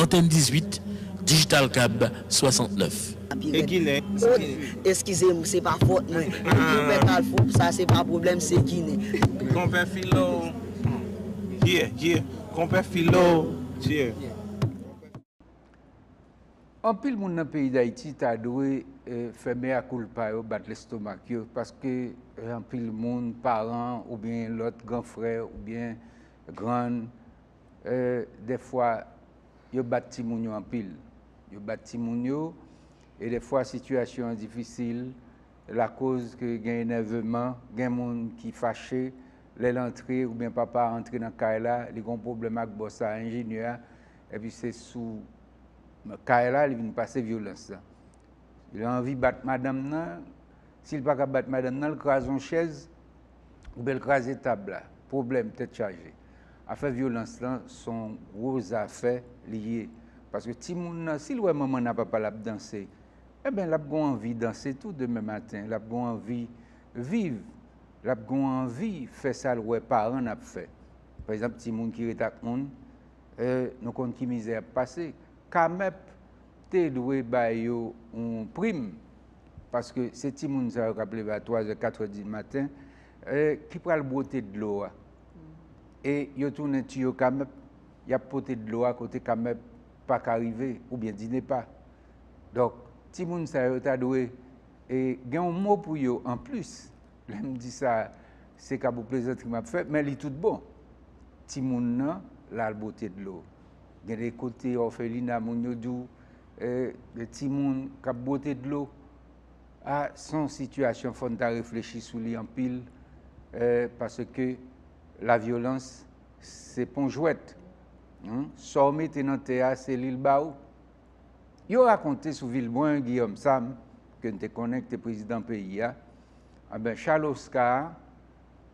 Antèn 18, Digital Cab 69. E ginen sa ye? Eskize m, se pa fòt mwen. Konpè Kalfou, sa se pa pwoblèm, se ginen. Konpè Filo, yeah, yeah, Konpè Filo, yeah. Anpil moun nan peyi Dayiti ta dwe fè mea culpa yo, bat lestomak yo, paske anpil moun, paran oubyen lòt gran frè oubyen grann, Dè fwa yo bat timoun yo anpil. Yo bat timoun yo e dè fwa sitiyasyon an difisil lakoz ke gen enèveman, gen moun ki fache lè l antre oubyen papa a antre nan kay la li gon pwoblèm ak bòs la, enjenyè a epi se sou kay la li vin pase vyolans la. Li anvi bat madanm nan, si l pa ka bat madanm nan l kraze yon chèz. Ou bèl kraze tab la. Pwoblèm tèt chaje. Afè vyolans lan son gwo zafè li ye. Paske timoun nan si l wè manman nan papa l ap danse enben l ap gon anvi danse tou demen maten. L ap gon anvi viv. L ap gon anvi fè sa l wè paran l ap fè. Pa egzanp timoun ki ret ak moun nou konn ki mizè y ap pase. Camep te dwe bay yo yon prim paske se timoun sa yo k ap leve a twazè, katrè di maten ki pral bwote dlo a. E yo tounen tiyo kamèp, y ap pote dlo a kote kamèp pa ka rive oubyen dinepa. Donk, timoun sa yo ta dwe gen yon mo pou yo anplis. Lè m di sa, se ka pou plezantri m ap fè, men li tout bon. Timoun nan, l al bwote dlo. Gen de kote òfelina moun yo di w de timoun kap bwote dlo a son sitiyasyon fòn ta reflechi sou li anpil paske la vyolans se pon jwèt sa w mete nan tè a se li l ba ou yo rakonte sou Vilbrun Guillaume Sam ke n te konnen ki te prezidan peyi a anben Charles Oscar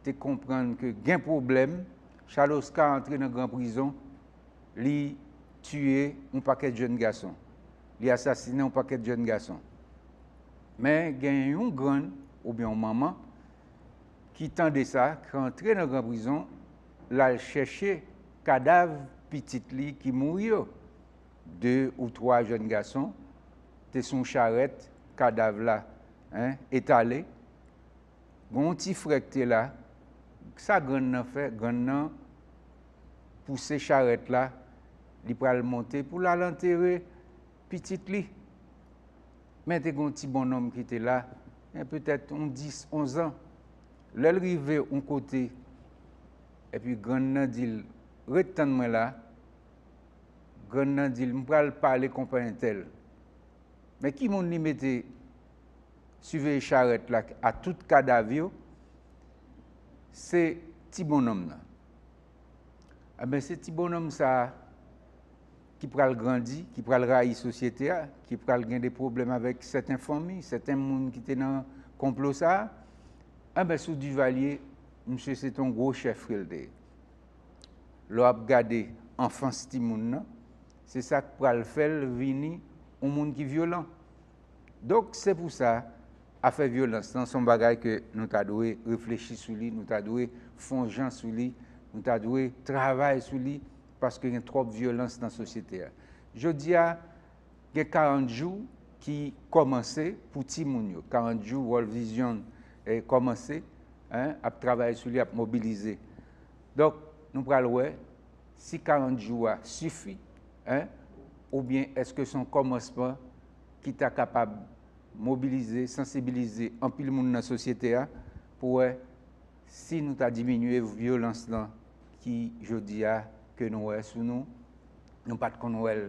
te konprann ke gen pwoblèm Charles Oscar antre nan gran prizon li tiye yon pakèt jèn gason, li asasinen yon pakèt jèn gason. Men gen yon grann oubyen yon manman ki tande sa, ki antre nan gran prizon, l al chèche kadav pitit li ki mouri yo. De ou twa jèn gason te sou yon charèt, kadav la etale. Gen yon ti frè ki te la, sa grann nan fè? Grann nan pouse charèt la, li pral monte pou l al antere pitit li. Men te gen yon ti bonnonm ki te la, gen petèt yon dis, onzan. Lè l rive yon kote, epi grann nan di l, Ret tann mwen la. Grann nan di l, M pral pale konpa entèl. Men ki moun li mete? siveye charèt la a tout kadav yo se ti bonnonm nan anben se ti bonnonm sa ki pral grandi ki pral rayi sosyete a ki pral gen de pwoblèm avèk sèten fanmi sèten moun ki te nan konplo sa anben sou Duvalier misye se te yon gwo chèf ke l te ye lè w ap gade anfans timoun nan se sa k pral fè l vini yon moun ki vyolan. Donk se pou sa afè vyolans lan son bagay ke nou ta dwe reflechi sou li, nou ta dwe fon jan sou li, nou ta dwe travay sou li paske gen twòp vyolans nan sosyete a. Jodi a gen 40 jou ki kòmanse pou timoun yo, 40 jou World Vision kòmanse ap travay sou li, ap mobilize. Donk nou pral wè. si 40 jou a sifi hein oubyen eske son kòmansman ki ta kapab mobilize, sansibilize anpil moun nan sosyete a pou wè si nou ta diminye vyolans lan ki jodi a ke nou wè sou nou, nou pat konn wèl.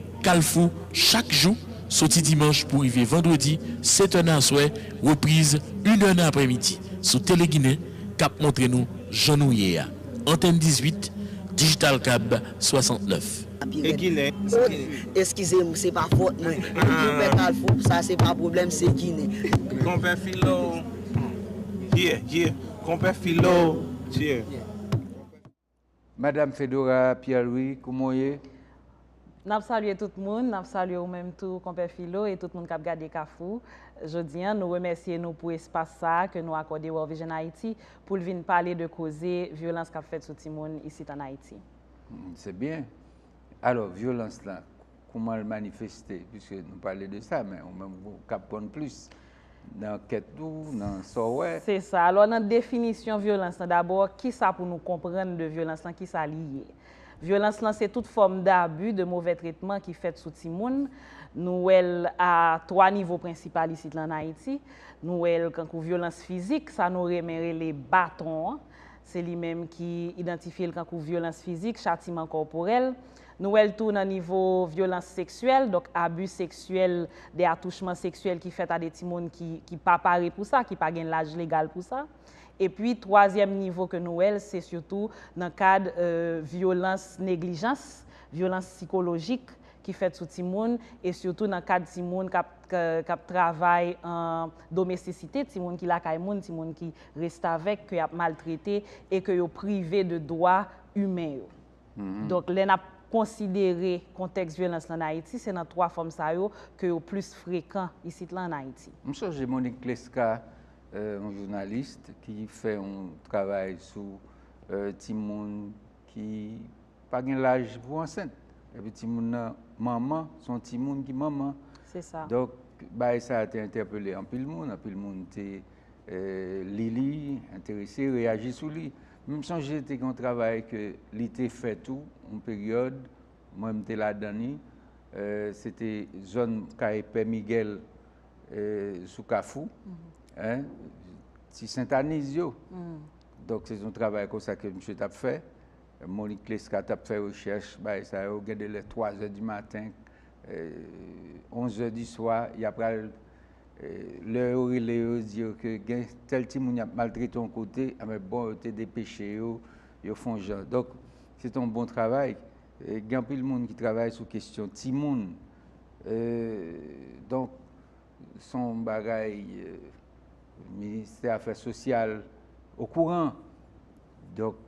Kalfou chak jou, soti dimanch pou rive vandredi, 7 è nan aswè, repriz, 1 è nan aprèmidi, sou Teleginen, k ap montre nou jan nou ye a. Antèn 18, Digital Cab 69. E ginen, se ginen. Eskize m, se pa fot mwen. Konpè Kalfou, sa se pa pwoblèm, se ginen. Konpè Filo, Hum, yeah, yeah. Konpè Filo, yeah. Madam Fedora Pierre Louis, kouman w ye? N ap salye tout moun, n ap salye ou menm tou Konpè Filo e tout moun k ap gade Kafou. Jodi an, nou remèsye nou pou espas sa a ke nou akòde World Vision Haïti pou l vin pale de koze vyolans k ap fèt sou timoun isit an Ayiti. Se byen. Alò, vyolans la, kouman l manifeste, piske nou pale de sa, men ou menm ou kab konn plis nan ankèt ou, nan sa w wè. Se sa. Alò nan definisyon vyolans lan, dabò ki sa pou nou konprann de vyolans lan, ki sa li ye? Vyolans lan se tout fòm dabi, de movè tretman ki fèt sou timoun. Nou wè l a twa nivo prensipal isit la ann Ayiti. Nou wè l kankou vyolans fizik, sa nou renmen rele baton an. Se li menm ki idantifye l kankou vyolans fizik, chatiman kòporèl. Nou wè l tou nan nivo vyolans seksyèl, donk abi seksyèl, de atouchman seksyèl ki fèt a de timoun ki pa pare pou sa, ki pa gen laj legal pou sa. Epi twazyèm nivo ke nou wè l, se sitou nan kad vyolans neglijans, vyolans sikolojik ki fèt sou timoun, e sitou nan kad timoun k ap travay an domestisite, timoun ki lakay moun, timoun ki restavèk, ke y ap maltrete e ke yo prive de dwa imen yo. Donk lè n ap konsidere kontèks vyolans lan Ayiti, se nan 3 fòm sa yo ke yo plis frekan isit lan an Ayiti. M sonje Monique Clesca, yon journaliste ki fè yon travay sou timoun ki pa gen laj pou ansent. Epi timoun nan manman, se yon timoun ki manman. Se sa. Donk bagay sa a te entèpele anpil moun, anpil moun te li li, enterese, reyaji sou li. M sonje te gen yon travay ke li te fè tou, yon peryòd, mwen m te ladan li, se te zòn kay Pè Miguel sou Kafou, ti Sentaniz yo. Donk se yon travay konsa ke misye t ap fè. Monik Lesca t ap fè rechèch, bagay sa yo, gen de lè 3 zè di maten, 11 zè di swa, y ap pral lè yo rele yo di yo ke gen tèl timoun y ap maltrete yon kote, anben bon yo te depeche yo, yo fon jan. Donk, se te yon bon travay. Gen anpil moun ki travay sou kesyon timoun. Donk, se yon bagay Ministè Afè Sosyal okouran. Donk,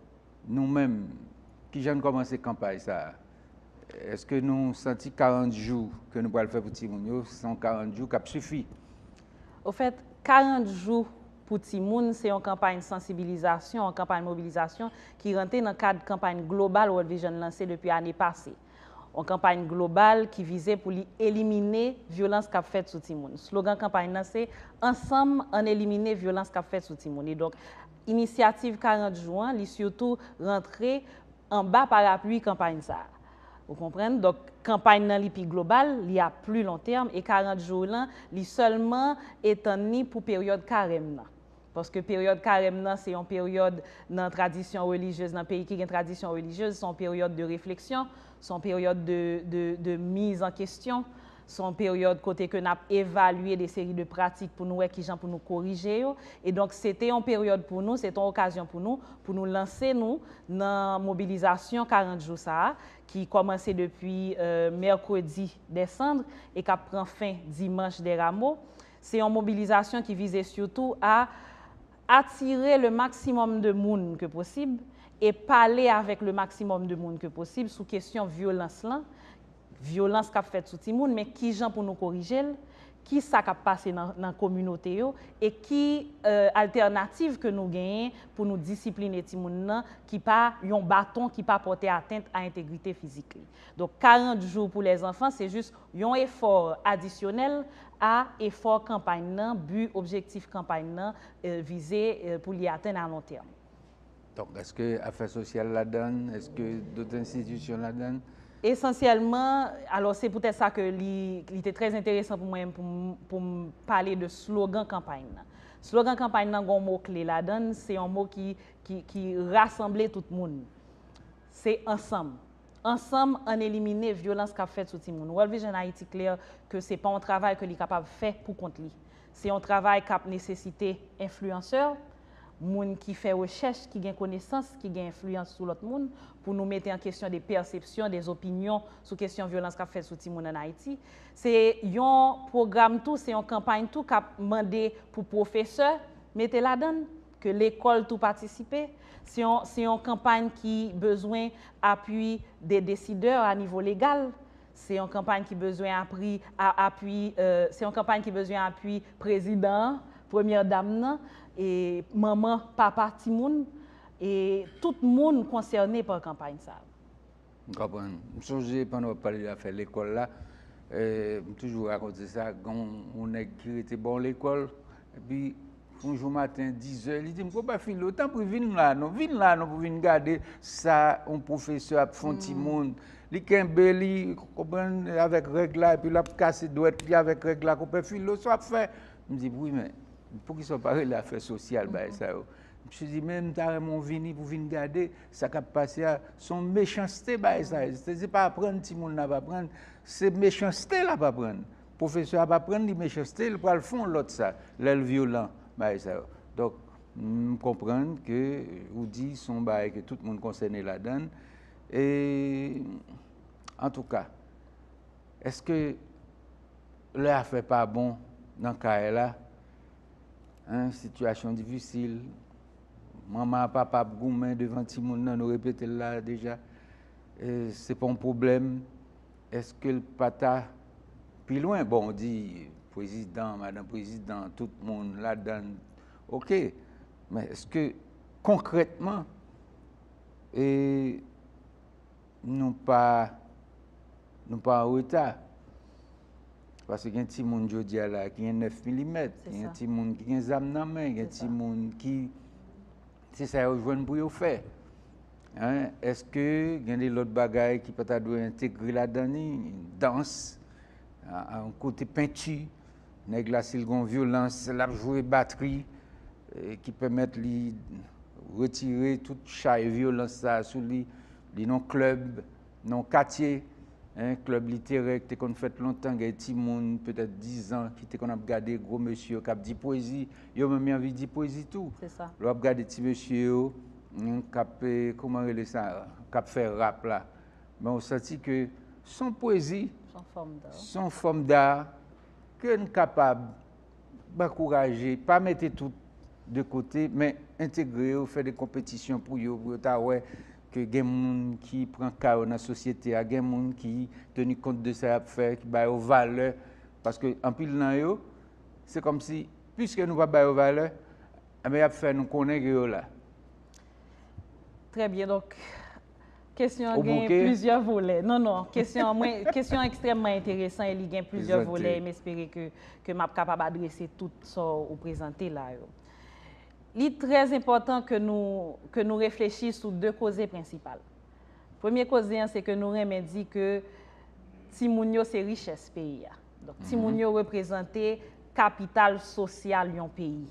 nou menm, ki jan n kòmanse kanpay sa a? Eske nou santi 40 jou ke nou pral fè pou timoun yo, se yon 40 jou kap sifi? Ofèt, 40 jou pou timoun se yon kanpay sansibilizasyon, yon kanpay mobilizasyon ki rantre nan kad kanpay global World Vision lanse depi ane pase. Yon kanpay global ki vize pou li elimine vyolans kap fèt sou timoun. Slogan kanpay nan se, Ansanm, ann elimine vyolans kap fèt sou timoun. Inisyativ 40 jou an li sitou rantre anba parapwi kanpay sa a. Ou konprann? Donk kanpay nan li pi global, li a pli lontèm e 40 jou lan li sèlman etann li pou peryòd karèm nan. Paske peryòd karèm nan se yon peryòd nan tradisyon relijyez, nan peyi ki gen tradisyon relijyez, se yon peryòd de refleksyon, se yon peryòd de miz an kesyon. Se yon peryòd kote ke n ap evalye de seri de pratik pou nou wè kijan pou nou korije yo. E donk se te yon peryòd pou nou, se te yon okazyon pou nou, pou nou lanse nou nan mobilizasyon 40 jou sa a ki kòmanse depi mèkredi dè sandr e k ap pran fen dimanch dè ramo. Se yon mobilizasyon ki vize sitou a atire le maksimòm de moun ke posib e pale avèk le maksimòm de moun ke posib sou kesyon vyolans lan. vyolans k ap fèt sou timoun men ki jan pou nou korije l, ki sa k ap pase nan kominote yo e ki altènativ ke nou genyen pou nou disipline timoun nan ki pa yon baton ki pa pòte atent a entegrite fizik li. Donk 40 jou pou lèzanfan se jis yon efò adisyonèl a efò kanpay nan, bi, objektif kanpay nan vize pou li atenn alontèm. Donk, èske afè sosyal ladan l? Èske dòt enstitisyon ladan l? Esansyèlman, alò se poutèt sa ke li te trè enteresan pou mwen pou m pale de slogan kanpay nan. Slogan kanpay nan gen yon mo kle ladan l, se yon mo ki rasanble tout moun. Se ansanm. Ansanm ann elimine vyolans k ap fèt sou timoun. World Vision Haiti klè ke se pa yon travay ke li kapab fè pou kont li. Se yon travay k ap nesesite enfliyansè, moun ki fè rechèch, ki gen konesans, ki gen enfliyans sou lòt moun, pou nou mete an kesyon de pèsepsyon, de zopinyon sou kesyon vyolans k ap fèt sou timoun ann Ayiti. Se yon pwogram tou, se yon kanpay tou k ap mande pou pwofesè mete ladan l, ke lekòl tou patisipe. Se yon kanpay ki bezwen apui de desidè a nivo legal. Se yon kanpay ki bezwen apri, apui, se yon kanpay ki bezwen apui prezidan an, premyè dam nan, e manman, papa timoun, e tout moun konsène pa kanpay sa a. M konprann. M sonje pandan w ap pale de afè lekòl la, m toujou rakonte sa, gen yon nèg ki rete bò yon lekòl, epi yon jou maten dizè, li di m, Konpa Filo, tanpri vin la non, vin la non pou vin gade sa yon pwofesè ap fè yon timoun. Li kenbe li, ou konprann, avèk règ la, epi l ap kase dwèt li avèk règ la, Konpè Filo, sa w ap fè? M di, Wi, men, poukisa w pa rele afè sosyal bagay sa yo? Misye di, Men, m ta renmen w vini pou w vin gade sa k ap pase a. Se yon mechanste bagay sa ye. Se pa aprann timoun l ap aprann, se mechanste l ap aprann. pwofesè ap aprann li mechanste li pral fon lòt sa lèl vyolan bagay sa yo donk m konprann ke ou di son bagay ke tout moun konsène ladann e antouka eske lè afè pa bon nan kay la hein sitiyasyon difisil manman a papa ap goumen devan timoun nan nou repetel la deja se pa yon pwoblèm Eske l pa ta pi lwen? Bon, ou di prezidan, madan prezidan, tout moun ladan l. Ok, men eske konkrètman e nou pa nou pa an reta? Paske gen ti moun jodi a la ki gen 9 milimèt, gen ti moun ki gen zam nan men, gen ti moun ki se sa yo jwenn pou yo fè. Eske gen de lòt bagay ki pa ta dwe entegre ladan ni? Dans, yon kote penti, nèg la si l gen yon vyolans, l ap jwe batri ki pèmèt li retire tout chay vyolans sa a sou li, li nan klèb. nan yon katye, klèb literè ki te konn fèt lontan, gen timoun petèt dizan ki te konn ap gade gwo mesye yo k ap di pwezi, yo menm y anvi di pwezi tou. Lè w ap gade ti mesye yo k ap, kouman rele sa, k ap fè rap la, men w santi ke s on pwezi, s on fòm da ke n kapab ankouraje, pa mete tout de kote, men entegre yo, fè de konpetisyon pou yo, pou yo ta wè ke gen moun ki pran ka yo nan sosyete a, gen moun ki teni kont de sa y ap fè, ki ba yo valè, paske anpil nan yo, se kòm si, piske nou pa ba yo valè, enben y ap fè nou konnen ke yo la. Trè byen, donk kesyon an gen plizyè volè. Ou bouke? Non, non, kesyon an mwen, kesyon an ekstrèmman enteresan e li gen plizyè volè e m espere ke m ap kapab adrese tout sa w prezante la yo. Li trè enpòtan ke nou ke nou reflechi sou de koze prensipal. Premye koze an se ke nou renmen di ke timoun yo se richès peyi a. Donk timoun yo reprezante kapital sosyal yon peyi.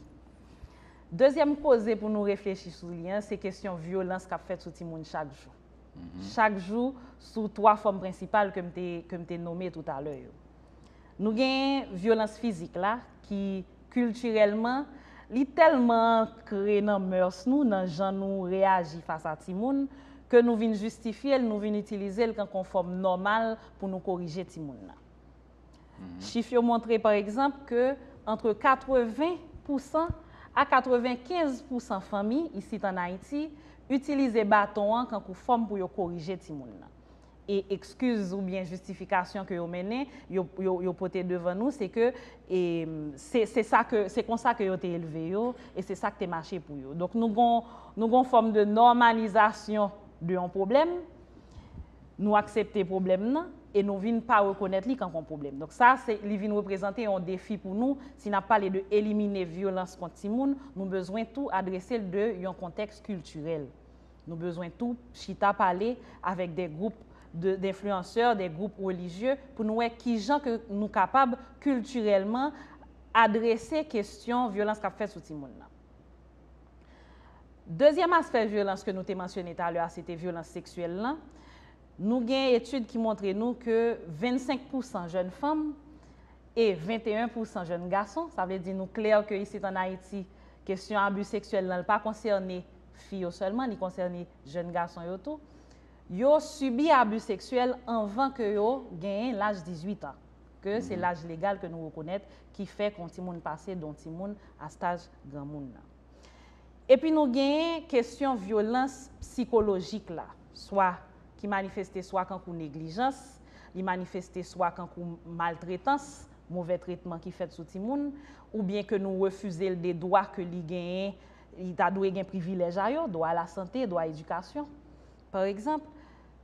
Dezyèm koze pou nou reflechi sou li an se kesyon vyolans k ap fèt sou timoun chak jou. chak jou sou 3 fòm prensipal ke m te ke m te nome tout a lè yo. Nou genyen vyolans fizik la ki kiltirèlman li tèlman ankre nan mœurs nou, nan jan nou reyaji fas a timoun ke nou vin jistifye l, nou vin itilize l kan kon fòm nòmal pou nou korije timoun nan. Chif yo montre pa egzanp ke antre 80 pousan a 95 pousan fanmi isit an Ayiti itilize baton an kankou fòm pou yo korije timoun nan. E ekskiz oubyen jistifikasyon ke yo mennen, yo pote devan nou se ke se konsa ke yo te elve yo e se sa ki te mache pou yo. Donk nou gon fòm de nòmalizasyon de yon pwoblèm. Nou aksepte pwoblèm nan e nou vin pa rekonèt li kank on pwoblèm. Donk sa se, li vin reprezante on defi pou nou, si nap pale de elimine vyolans kont timoun, nou bezwen tou adrese l de yon kontèks kiltirèl. Nou bezwen tou chita pale avèk de gwoup de denfliyansè, de gwoup relijye pou nou wè kijan ke nou kapab kiltirèlman adrese kesyon vyolans kap fèt sou timoun nan. Dezyèm aspè vyolans ke nou te mansyone talè a se te vyolans seksyèl lan. Nou gen etid ki montre nou ke 25 pousan jèn fanm e 21 pousan jèn gason, sa vle di nou klè ke isit an Ayiti, kesyon abi seksyèl lan li pa konsène fi yo sèlman, li konsène jèn gason yo tou, yo sibi abi seksyèl anvan ke yo genyen laj 18 an, ke se laj legal ke nou rekonèt ki fè kon timoun pase don timoun a staj granmoun nan. Epi nou genyen kesyon vyolans psikolojik la, swa ki manifeste swa kankou neglijans, li manifeste swa kankou maltretans, movè tretman ki fèt sou timoun, oubyen ke nou refize l de dwa ke li genyen, li ta dwe gen privilèj a yo, dwa a la sante, dwa a edikasyon. Pa egzanp,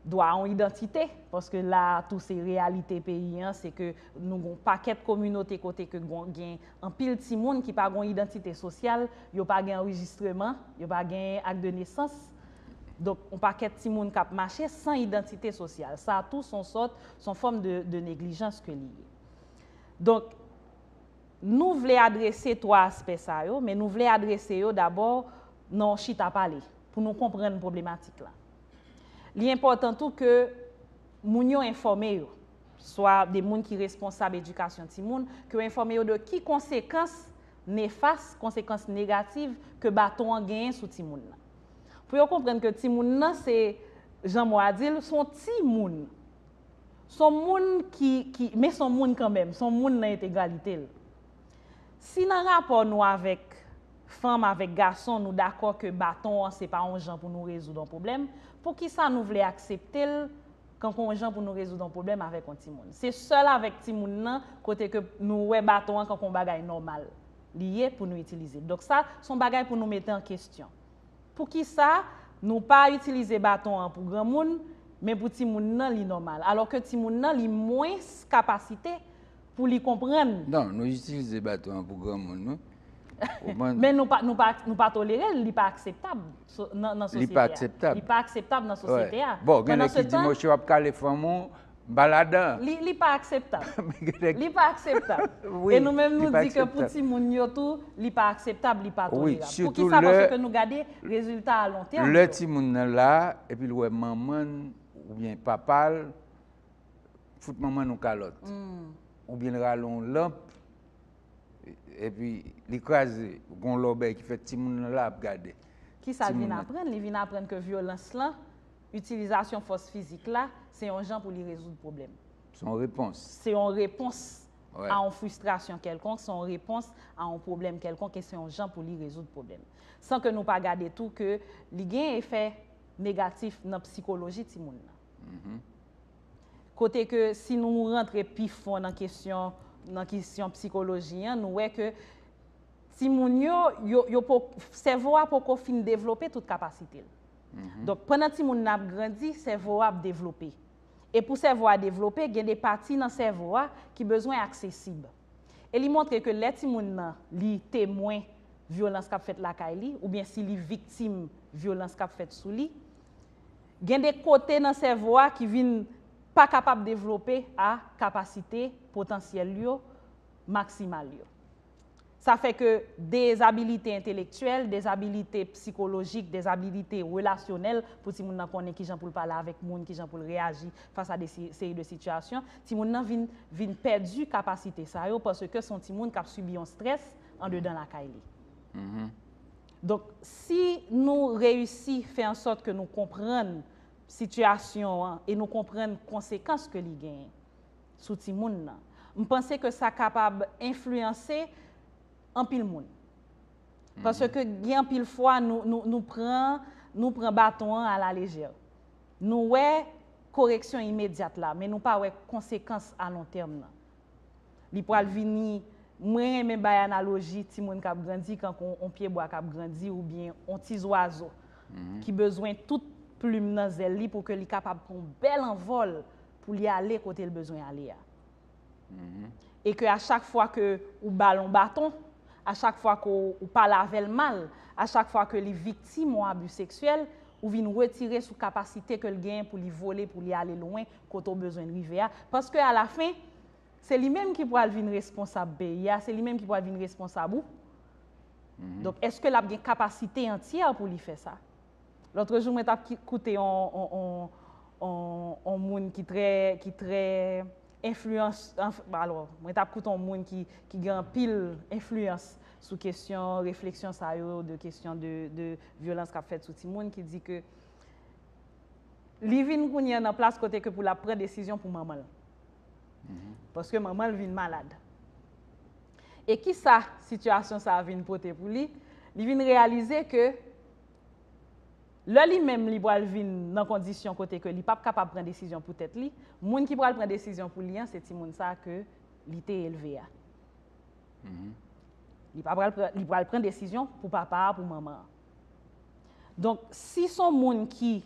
dwa a yon idantite, paske la a tou se reyalite peyi an, se ke nou gen yon pakèt kominote kote ke gen anpil timoun ki pa gen yon idantite sosyal, yo pa gen anrejistreman, yo pa gen ak de nesans. Donk, yon pakèt timoun k ap mache san idantite sosyal. Sa tou se yon sòt, se yon fòm de neglijans ke li ye. Donk, nou vle adrese twa aspè sa yo, men nou vle adrese yo dabò nan yon chita pale. pou nou konprann pwoblematik la. Li enpòtan tou ke moun yo enfòme yo, swa de moun ki responsab edikasyon timoun, ke yo enfòme yo de ki konsekans nefas, konsekans negativ ke baton an genyen sou timoun nan. Pou yo konprann ke timoun nan se, jan mo a di l, son ti moun. Son moun ki, ki, men son moun kanmenm, son moun nan entegralite l. Si nan rapò nou avèk. Fanm avèk gason nou dakò ke baton an se pa on jan pou nou rezoud on pwoblèm, poukisa nou vle aksepte l kankou on jan pou nou rezoud on pwoblèm avèk on timoun? Se sèl avèk timoun nan kote ke nou wè baton an kankou on bagay nòmal li ye pou nou itilize. Donk sa, se on bagay pou nou mete an kestyon. Poukisa nou pa itilize baton an pou granmoun, men pou timoun nan li nòmal, alò ke timoun nan li mwens kapasite pou li konprann. Non, nou itilize baton an pou granmoun wi. Men nou pa tolere l, li pa akseptab nan sosyete a. Li pa akseptab. Li pa akseptab nan sosyete a. Bon, gen nèg ki di mouche wap kale fanm ou, ba la dan. Li pa akseptab. Li pa akseptab. E nou menm nou di ke pou timoun yo tou, li pa akseptab, li pa tolerab. Pou ki sa panse ke nou gade rezilta a lon tèm yo. Lè timoun nan la, epi l wè manman l, oubyen papa l. fout manman nou kalòt. Ou byen rale yon lanp, epi li kraze, gon lòbèy ki fèt, timoun nan la ap gade. Ki sa l vin aprann? Li vin aprann ke vyolans lan, itilizasyon fòs fizik la, se yon jan pou li rezoud pwoblèm. Se yon repons. Se yon repons a yon fristrasyon kèlkonk, se yon repons a yon pwoblèm kèlkonk, e se yon jan pou li rezoud pwoblèm. San ke nou pa gade tou ke li gen efè negatif nan psikoloji timoun nan. Kote ke si nou rantre pi fon nan kesyon, nan kesyon psikoloji an, nou wè ke timoun yo, yo po, sèvo a poko fin devlope tout kapasite l. Donk, pandan timoun nan ap grandi, sèvo a ap devlope. E pou sèvo a devlope, gen de pati nan sèvo a ki bezwen aksesib. E li montre ke lè timoun nan, li temwen vyolans k ap fèt lakay li, oubyen si li viktim vyolans k ap fèt sou li, Gen de kote nan sèvo a ki vin pa kapab devlope a kapasite potansyèl l yo maksimal yo. Sa fè ke dezabilite entelektyèl, dezabilite psikolojik, dezabilite relasyonèl, pou timoun nan konnen kijan pou l pale avèk moun, kijan pou l reyaji fas a de seri de sitiyasyon, timoun nan vin vin pèdi kapasite sa yo paske se yon timoun k ap sibi yon strès andedan lakay li. Donk, si nou reyisi fè an sòt ke nou konprann sitiyasyon an e nou konprann konsekans ke li genyen sou timoun nan, m panse ke sa kapab enfliyanse anpil moun. Paske gen anpil fwa nou pran nou pran baton an alalejè. Nou wè koreksyon imedyat la, men nou pa wè konsekans alontèm nan. Li pral vini, mwen renmen bay analoji timoun k ap grandi kankou yon pye bwa k ap grandi oubyen yon ti zwazo ki bezwen tout plim nan zèl li pou ke li kapab pran yon bèl anvòl pou li ale kote l bezwen ale a. E ke a chak fwa ke ou ba l yon baton, a chak fwa ke ou pale avè l mal, a chak fwa ke li viktim yon abi seksyèl, Ou vin retire sou kapasite ke l genyen pou li vole, pou li ale lwen kote ou bezwen l rive a. Paske a la fen, se li menm ki pral vin responsab peyi a, se li menm ki pral vin responsab ou. Donk, eske l ap gen kapasite antyè pou li fè sa? Lotrejou mwen t ap koute yon moun ki trè, ki trè, enfliyans, alò, mwen t ap koute yon moun ki gen anpil enfliyans sou kesyon refleksyon sa yo, de kesyon de vyolans k ap fèt sou timoun, ki di ke li vin kounye an nan plas kote ke pou l ap pran desizyon pou manman l. Paske manman l vin malad. E ki sa sitiyasyon sa a vin pote pou li? Li vin reyalize ke. Lè li menm li pral vin nan kondisyon kote ke li pap kapab pran desizyon pou tèt li, moun ki pral pran desizyon pou li an se timoun sa ke li te elve a. Li pa pral pran, li pral pran desizyon pou papa a, pou manman an. Donk, si son moun ki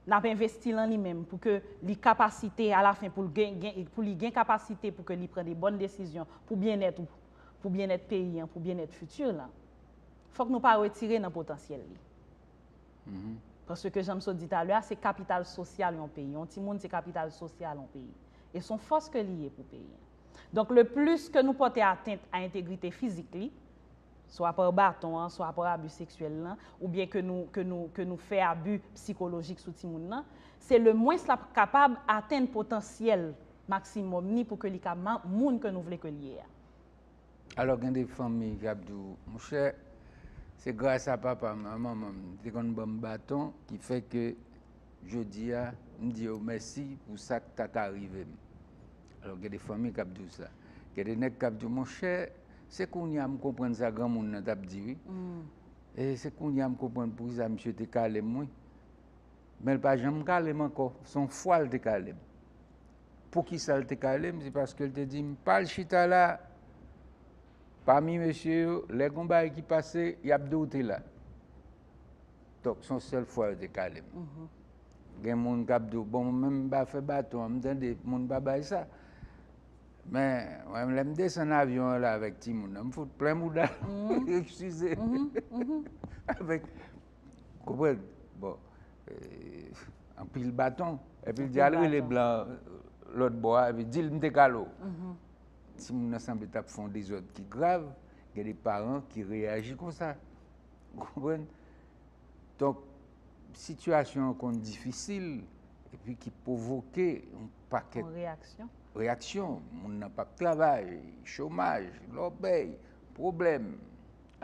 nap envesti lan li menm pou ke li kapasite a la fen pou li gen kapasite pou ke li pran de bòn desizyon pou byennèt ou, pou byennèt peyi an, pou byennèt fiti lan, fòk nou pa retire nan potansyèl li. Paske jan m sot di talè a, se kapital sosyal yon peyi. Yon timoun se kapital sosyal yon peyi. E son fòs ke li ye pou peyi an. Donk le plis ke nou pòte atent a entegrite fizik li, swa par baton an, swa par abi seksyèl lan, oubyen ke nou, ke nou, ke nou fè abi psikolojik sou timoun lan, se le mwens l ap kapab atenn potansyèl maksimòm ni pou ke li ka moun ke nou vle ke l ye a. Alò gen de fanmi ki ap di w, monchè, se gras a papa m, a manman m, te konn ban m baton ki fè ke jodi a m di yo mèsi pou sa k ta ka rive m. Alò gen de fanmi k ap di w sa. Gen de nèg k ap di w, monchè, se kounye a m konprann sa granmoun nan t ap di wi. E se kounye a m konprann pou ki sa misye te kale m wi. Men l pa janm kale m ankò. Se yon fwa l te kale m. Poukisa l te kale m? Se paske l te di m pa al chita la pami mesye yo. Lè gen yon bagay ki pase, y ap di w te la. Donk, se yon sèl fwa yo te kale m. Gen moun k ap di w, bon, mwen menm m pa fè baton an, m tande moun pa bay sa. Men, mwen menm lè m desann avyon an la avèk timoun nan, m fout plen mouda m, eskize, avèk Konprann? Bon, anpil baton. Epi l di al rele blan lòt bò a, epi di l m te kale w. Timoun nan sanble t ap fè yon dezòd ki grav. Gen de paran ki reyaji konsa. Ou konprann? Donk, sitiyasyon an konn difisil, epi ki pwovoke yon pakèt. Yon reyaksyon. Reyaksyon. Moun nan p ap travay, chomaj, lòbèy, pwoblèm,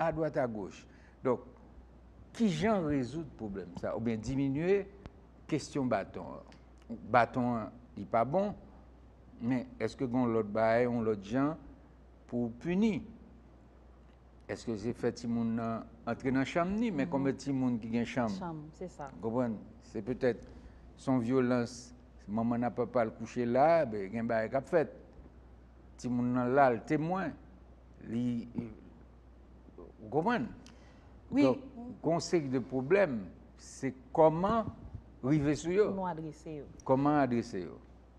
adwat agoch. Donk, ki jan rezoud pwoblèm sa oubyen diminye kesyon baton an? Baton an li pa bon, men èske gen yon lòt bagay, yon lòt jan pou w pini? Èske se fè timoun nan antre nan chanm ni? Men konbyen timoun ki gen chanm? Chanm, se sa. Ou konprann? Se petèt s on vyolans, manman nan papa l kouche la, ben gen bagay k ap fèt. Timoun nan la, l temwen, li Ou konprann? Wi. Donk, gen yon seri de pwoblèm, se kòman rive sou yo. Nou adrese yo. Kòman adrese yo.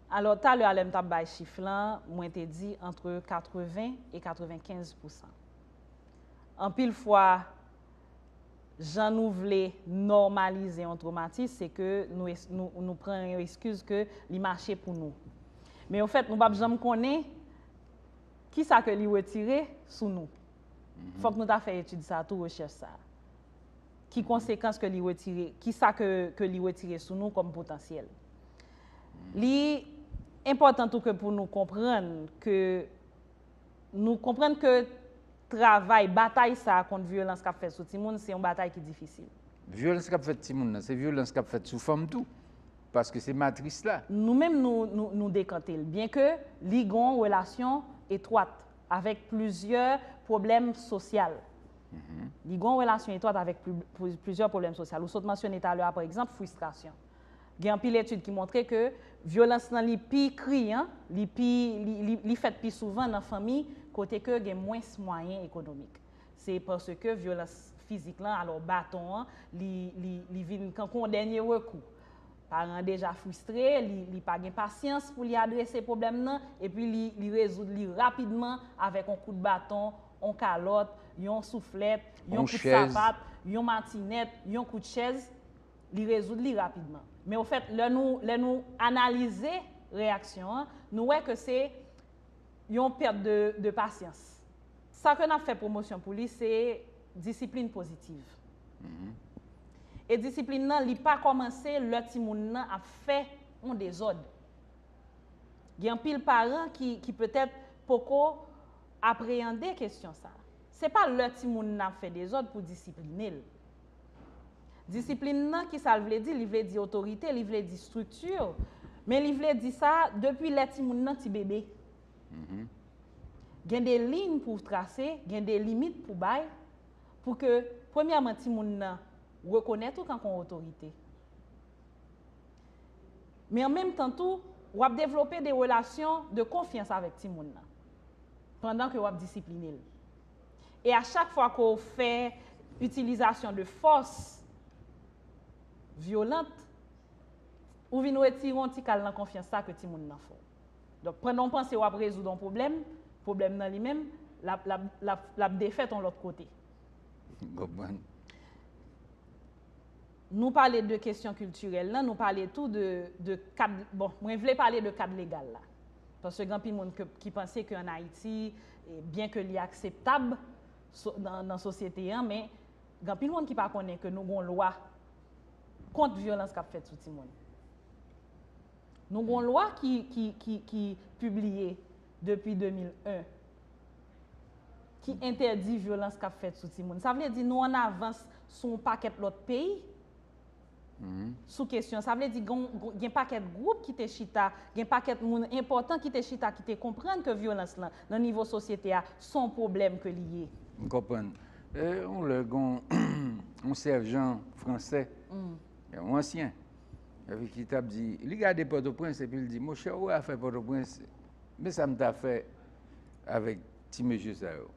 Alò, talè a lè m t ap bay chif lan, mwen te di antre 80 e 95 pousan. Anpil fwa, jan nou vle nòmalize yon twomatis, se ke nou pran yon eskiz ke li mache pou nou. Men ofèt, nou p ap janm konnen. Ki sa ke li wetire sou nou? Fòk nou ta fè etid sa tou, rechèch sa. Ki konsekans ke li wetire, ki sa ke ke li wetire sou nou kòm potansyèl? Li enpòtan tou ke pou nou konprann ke nou konprann ke travay, batay sa kont vyolans kap fèt sou timoun se yon batay ki difisil. Vyolans kap fèt timoun nan, se vyolans kap fèt sou fanm tou. Paske se matris la. Nou menm nou dekante l. Byen ke li gon relasyon etwat avèk plizyè pwoblèm sosyal. Li gon relasyon etwat avèk plizyè pwoblèm sosyal. Ou sot mansyone talè a pa egzanp fristrasyon. Gen anpil etid ki montre ke vyolans lan li pi kriyan, li fèt pi souvan nan fanmi kote ke gen mwens mwayen ekonomik. Se paske vyolans fizik lan, alò baton an, li vin kankou yon dènye rekou. Paran an deja fristre, li pa gen pasyans pou li adrese pwoblèm nan, epi li rezoud li rapidman avèk yon kout baton, yon kalòt, yon souflèt, yon kout sapat, yon matinèt, yon kout chèz, li rezoud li rapidman. Men ofèt, lè nou analize reyaksyon an, nou wè ke se yon pèt de pasyans. Sa ke n ap fè pwomosyon pou li se disiplin pozitiv. E disiplin nan li pa kòmanse lè timoun nan ap fè yon dezòd. Gen anpil paran ki petèt poko apreyande kesyon sa. Se pa lè timoun nan ap fè dezòd pou disipline l. Disiplin nan ki sa l vle di? Li vle di otorite, li vle di estrikti, men li vle di sa depi lè timoun nan ti bebe. Gen de liyn pou w trase, gen de limit pou bay, pou ke premyèman timoun nan rekonèt ou kan kon otorite. Men an menm tan tou, w ap devlope de relasyon de konfyans avèk timoun nan, pandan ke w ap disipline l. E a chak fwa ke w fè itilizasyon de fòs vyolant, ou vin retire yon ti kal nan konfyans sa ke timoun nan fè w. Donk pandan w panse wap rezoud on pwoblèm, pwoblèm nan li menm, lap, lap, lap, lap defèt on lòt kote. M konprann. Nou pale de kesyon kiltirèl lan, nou pale tou de, de kad, bon, mwen vle pale de kad legal la. Paske gen anpil moun ke, ki panse ke an Ayiti, byen ke li akseptab so, nan, nan sosyete an, men gen anpil moun ki pa konnen ke nou gen yon lwa kont vyolans kap fèt sou timoun. Nou gen yon lwa ki pibliye depi 2001 ki entèdi vyolans k ap fèt sou timoun. Sa vle di nou an avans sou yon pakèt lòt peyi sou kesyon. Sa vle di gen pakèt gwoup ki te chita, gen pakèt moun enpòtan ki te chita ki te konprann ke vyolans lan nan nivo sosyete a se yon pwoblèm ke li ye. M konprann. Yon lè gen yon sèjan fransè, yon ansyen, Epi ki t ap di, li gade Pòtoprens epi l di, monchè ou wè afè Pòtoprens, men sa m ta fè avèk ti mesye sa yo.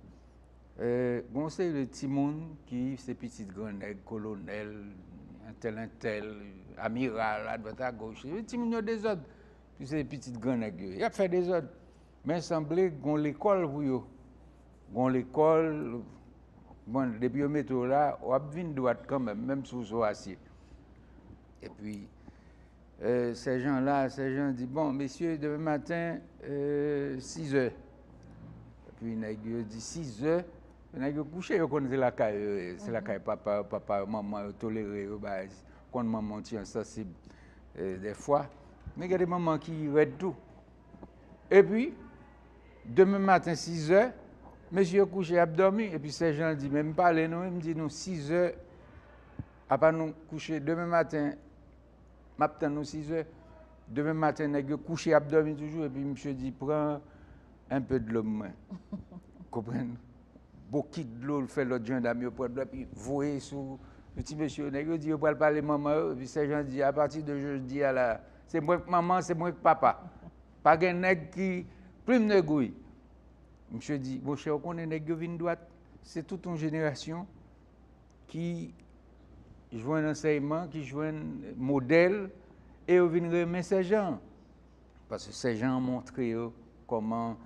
Gen yon seri de timoun ki se pitit gran nèg, kolonèl, entèl entèl, amiral, adwat agoch, timoun yo dezòd, se pitit gran nèg yo ye, y ap fè dezòd. Men sanble gon lekòl pou yo. Gon lekòl, bon depi yo mete w la, w ap vin dwat kanmenm, menm si w sou asye. Epi, sèjan la, sèjan an di, bon, mesye, demen maten, sizè. Epi nèg yo di, sizè? Nèg yo kouche, yo konn se lakay yo ye, se lakay papa yo, papa yo, manman yo tolere yo, bay, konn manman w ti ensansib dèfwa. Men gen de manman ki rèd tou. Epi, demen maten sizè, mesye yo kouche y ap dòmi. Epi sè Jan di, men m pale nou wi, m di nou sizè, apa nou kouche demen maten, m ap tann nou sizè. Demen maten nèg yo kouche y ap dòmi toujou. Epi misye di, pran enpe dlo m mwen. Konprann? Bokit dlo l fè lòt jandam yo pran dlo a epi voye sou ti mesye yo. Nèg yo di yo pral pale manman yo. Epi sè Jan di, apati de jodi a la, Se mwen k manman, se mwen k papa. Pa gen nèg ki plim de gouy. Misye di, monchè ou konnen nèg yo vin dwat. Se tout yon jenerasyon ki jwenn ansèyman, ki jwenn modèl, e yo vin renmen sèjan. Paske sèjan an montre yo kòman,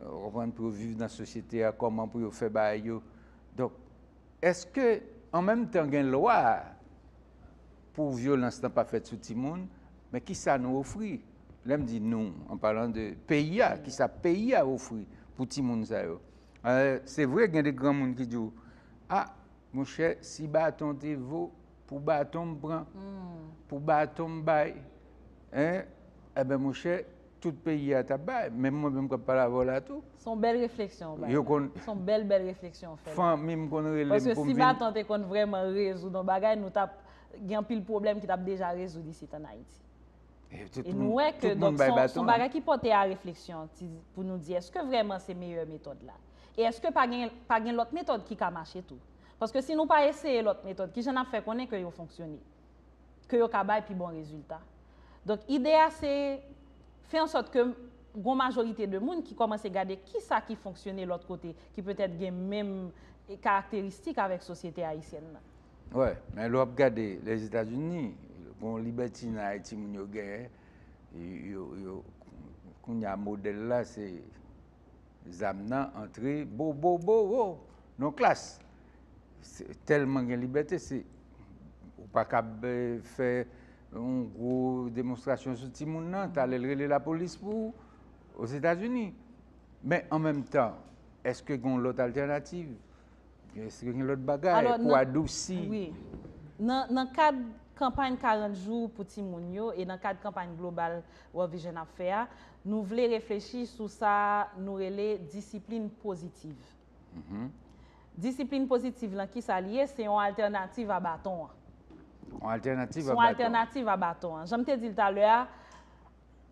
ou konprann, pou yo viv nan sosyete a, kòman pou yo fè bagay yo. Donk. Eske an menm tan gen lwa pou vyolans lan pa fèt sou timoun, men kisa nou ofri? Lè m di nou, an palan de peyi a, kisa peyi a ofri pou timoun sa yo? Se vre gen de granmoun ki di w, a, monchè si baton te vo pou baton m pran, pou baton m bay, enben monchè Tout peyi a tap bay, menm mwen menm kap pale avè w la tou. Son bèl refleksyon ou bay la. Son bèl bèl refleksyon ou fè la. Fanmi m konn rele m pou m vin. Paske si baton te konn vrèman rezoud yon bagay, nou tap gen anpil pwoblèm ki tap deja rezoud isit an Ayiti. E nou wè ke donk son bagay ki pote a refleksyon pou nou di eske vrèman se meyè metòd la. E eske pa gen lòt metòd ki ka mache tou. Paske si nou pa eseye lòt metòd, kijan nap fè konnen ke yo fonksyone. ke yo ka bay pi bon rezilta. Donk ide a se fè an sòt ke gon majorite de moun ki kòmanse gade kisa ki fonksyone lòt kote ki petèt gen menm karakteristik avèk sosyete ayisyèn nan. Wè, men lè w ap gade Lèzetazini, gon libètinay timoun yo genyen, yo, yo, kounya modèl la se. Zam nan antre bobobobo nan klas. Tèlman gen libète se ou pa kab fè yon gwo demonstrasyon sou timoun nan, talè l rele lapolis pou ou Ozetazini. Men an menm tan, èske gen yon lòt altènativ? Eske gen lòt bagay pou adousi? Wi. Nan kad kanpay 40 jou pou timoun yo e nan kad kanpay global World Vision ap fè a, nou vle reflechi sou sa nou rele disiplin pozitiv. Disiplin pozitiv lan ki sa li ye? Se yon altènativ a baton an. Yon altènativ a baton an. Se yon altènativ a baton an. Jan m te di l talè a,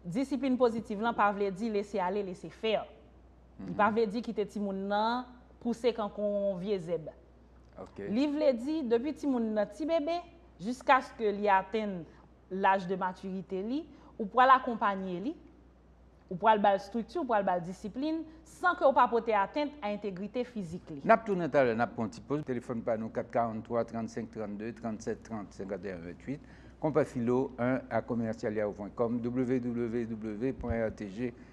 disiplin pozitiv lan pa vle di lese ale lese fè. Li pa vle di kite timoun nan pouse kankou yon vye zèb. Li vle di depi timoun nan ti bebe, jiskaske li atenn laj de matirite li, ou pral akonpanye li, ou pral ba l estrikti, ou pral ba l disiplin, san ke ou pa pote atent a entegrite fizik li. N ap tounen talè, n ap pran yon ti poz. Telefòn pa nou 443 35 32 37 30 51 28 Konpa Filo 1 a commercial yahoo pwen kòm www pwen rtg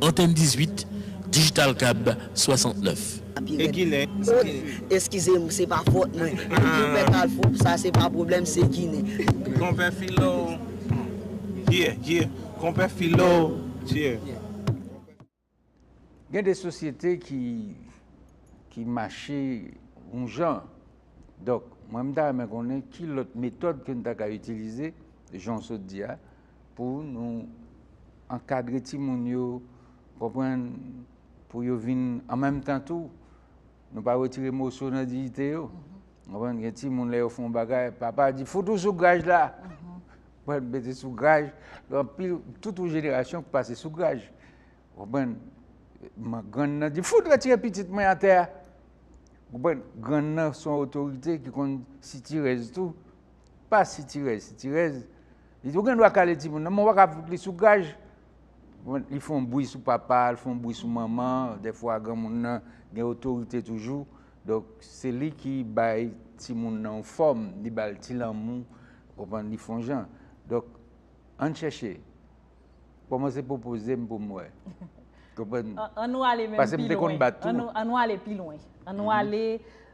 Antèn 18, Digital Cab 69. E ginen sa ki fè. Eskize m se pa fot mwen. Konpè kalfou sa se pa pwoblèm se ginen. Konpè filo yeah yeah konpè filo yeah. Gen de sosyete ki ki mache yon jan donk mwen m ta renmen konnen ki lòt metòd ke n ta ka itilize jan w sot di a. pou nou ankadre timoun yo, konprann, pou yo vin an menm tan tou, nou pa wetire moso nan diyite yo. Konprann, gen timoun lè yo fon bagay, papa di fout ou sou graj la. Konprann, mete sou graj, an pil, tout ou jenerasyon ki pase sou graj. Konprann, grann nan di fout retire pitit mwen atè a. Konprann, grann nan son otorite ki konn sitirèz tou. Pa sitirèz sitirèz. Li di ou gen dwa kale timoun nan, men ou pa ka fout li sou gaj. Li fè yon bwi sou papa, li fè yon bwi sou manman, dèfwa granmoun nan gen otorite toujou. Donk se li ki bay timoun nan yon fòm, li ba l ti lanmou, ou konprann, li fè yon jan. Donk ann chèche. Kòmanse pwopoze m pou m wè. Konprann? An nou ale menm pi lwen. Pase m te konn bat tou. An nou ale pi lwen. An nou ale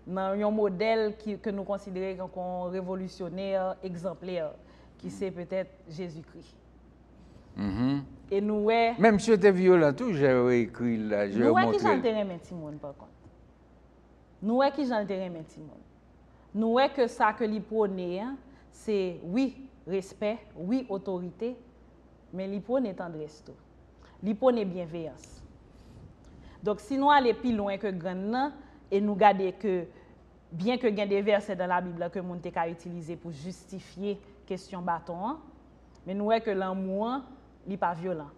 nan yon modèl ke nou konsidere kon revolisyonè, egzanplè, ki se petèt Jezikri. E nou wè. Men misye te vyolan tou, jan yo ekri l la, jan yo montre l. Nou wè ki jan l te renmen timoun, pa kont. Nou wè ki jan l te renmen timoun. Nou wè ke sa ke li pwone an, se wi, respè, wi, otorite, men li pwone tandrès tou. Li pwone byenveyans. Donk, si nou ale pi lwen ke grann nan, e nou gade ke, byen ke gen de vèsè dan la Bib la ke moun te ka itilize pou jistifye kesyon baton an, men nou wè ke lanmou an, li pa vyolan.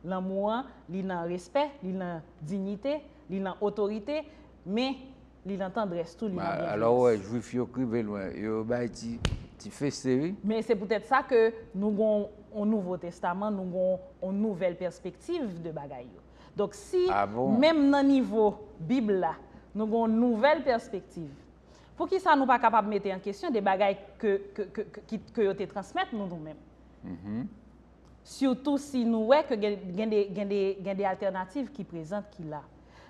Lanmou an, li nan respè, li nan dinyite, li nan otorite, men, Li nan tandrès tou, li nan byenjwenns. Alò ou wè, Jwif yo k rive lwen, yo bay ti feste wi. Men se poutèt sa ke nou gon yon Nouvo Testaman, nou gon yon nouvèl pèspektiv de bagay yo. Donk si menm nan nivo Bib la, nou gon yon nouvèl pèspektiv, poukisa nou pa kapab mete an kesyon de bagay ke yo te transmèt nou nou menm? Sitou si nou wè ke gen de altènativ ki prezant ki la.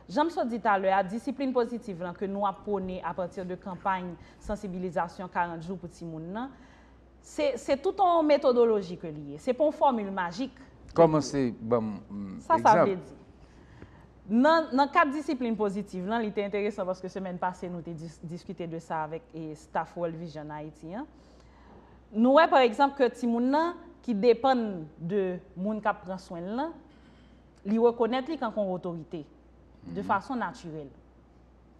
Jan m sot di talè a, disiplin pozitiv lan ke nou ap pwone apati de kanpay sansibilizasyon 40 jou pou timoun nan, se se tout yon metodoloji ke li ye. Se pa yon fòmil majik. Kòmanse ban m egzanp. Sa sa vle di? Nan nan kad disiplin pozitiv lan, li te enteresan paske semèn pase nou te diskite de sa avèk staff World Vision Haiti an, nou wè pa egzanp ke timoun nan ki depann de moun k ap pran swen l lan, Li rekonèt li kank on otorite, de fason natirèl.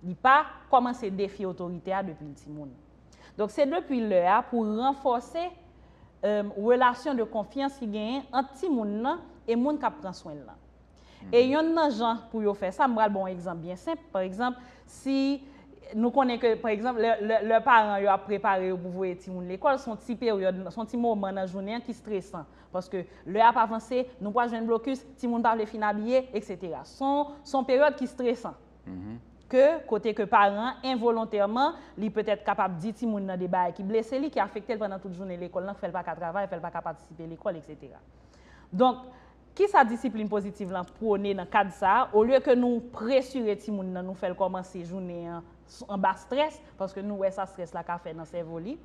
Li pa kòmanse defye otorite a depi l timoun. Donk se depi lè a pou ranfòse relasyon de konfyans ki genyen ant timoun nan e moun k ap pran swen l lan. E yonn nan jan pou yo fè sa, m pral ba w on egzanp byen senp, pa egzanp, si nou konnen ke, pa egzanp, lè paran yo ap prepare yo pou voye timoun lekòl, s on ti peryòd, s on ti moman nan jounen an ki stresan Paske lè ap avanse, nou pral jwenn blokis, timoun pa vle fin abiye, eksetera. Son, son peryòd ki stresan. Ke, kote ke paran an, envolontèman, li petèt kapab di timoun nan de bagay ki blese li, ki afekte l pandan tout jounen lekòl lan, k fè l pa ka travay, fè l pa ka patisipe lekòl, eksetera. Donk, kisa disiplin pozitiv lan pwone nan kad sa a, olye ke nou presire timoun nan, nou fè l kòmanse jounen an anba strès, paske nou wè sa strès la ka fè nan sèvo li,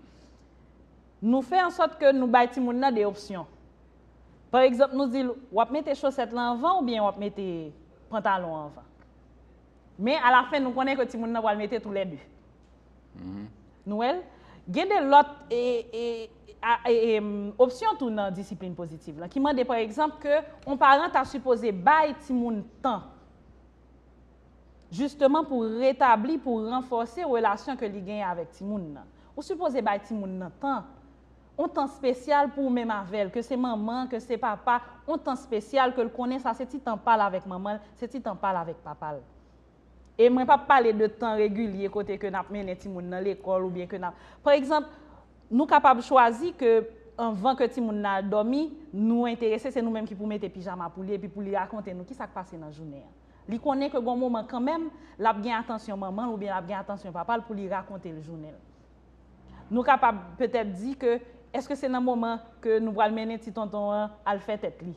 Nou fè an sòt ke nou bay timoun nan 2 opsyon. Pa egzanp nou di l, w ap mete chosèt lan anvan oubyen w ap mete pantalon an anvan. Men alafen nou konnen ke timoun nan pral mete tou lè 2. Nou wè l? Gen 2 lòt opsyon tou nan disiplin pozitiv lan ki mande pa egzanp ke yon paran ta sipoze bay timoun tan Jisteman pou retabli, pou ranfòse relasyon ke li genyen avèk timoun nan. Ou sipoze bay timoun nan tan. On tan spesyal pou ou menm avè l, ke se manman, ke se papa, on tan spesyal ke l konnen sa se ti tan pa l avèk manman l, se ti tan pa l avèk papa l. E mwen pa pale de tan regilye kote ke n ap mennen timoun nan lekòl ou byen ke n ap. Pa egzanp, nou kapab chwazi ke anvan ke timoun nan al dòmi, nou enterese se nou menm ki pou mete pijama pou li epi pou li rakonte nou kisa k pase nan jounen an. Li konnen ke gon moman kanmenm, lap gen atansyon manmanl oubyen lap gen atansyon papal pou li rakontel jounenl. Nou kapab petèt di ke eske se nan moman ke nou pral mennen ti tonton an al fè tèt li?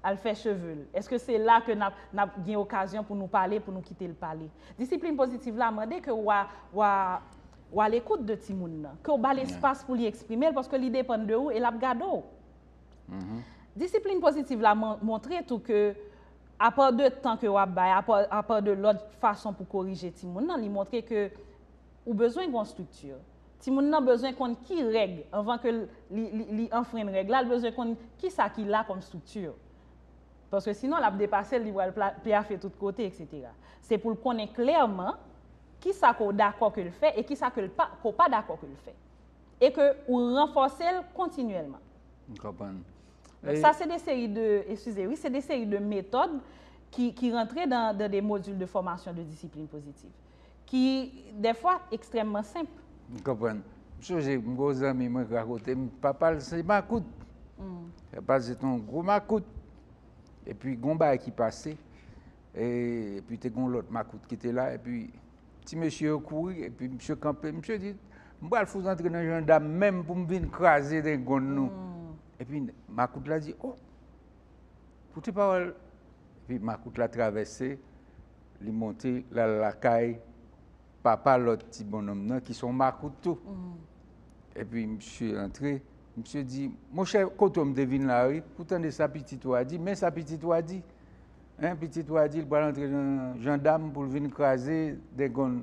Al fè chevel? Eske se la ke nap nap gen okazyon pou nou pale, pou nou kitel pale? Disiplin pozitiv la mande ke wa wa wa lekout de timoun nan, ke w bal espas pou li eksprimel paske li depann de ou e lap gade w. Disiplin pozitiv la montre tou ke apa de tan ke w ap bay, apa de lòt fason pou korije timoun nan, li montre ke ou bezwen gen yon estrikti. Timoun nan bezwen konn ki règ, anvan ke li anfrenn règ la, li bezwen konn ki sa ki la kòm estrikti. Paske sinon l ap depase l, li pral pyafe tout kote, eksetera. Se pou l konnen klèman ki sa ke w dakò ke l fè e ki sa ke w pa dakò ke l fè. E ke ou ranfòse l kontinyèlman. M konprann. Donk sa se de seri de, eskize wi, se de seri de metòd ki rantre dan de modil de fòmasyon de disiplin pozitiv. Ki dèfwa ekstrèmman senp. M konprann. M sonje m gen yon zanmi mwen ki rakonte m, papa l se makout. Papa l se te yon gwo makout. Epi gen yon bagay ki pase, epi te gen yon lòt makout ki te la epi. Ti mesye yo kouri epi misye kanpe. Misye di, m pral fout antre nan jandam menm pou m vin kraze dengonn nou. Epi makout la di, oh, koute pawòl. Epi makout la travèse, li monte, l al lakay papa lòt ti bonnonm nan ki se yon makout tou. Epi misye antre, misye di, monchè, kote w m te vin la wi, ou tande sa pitit ou a di, men sa pitit ou a di. Hein pitit wa di li pral antre nan jandam poul vin kraze degonn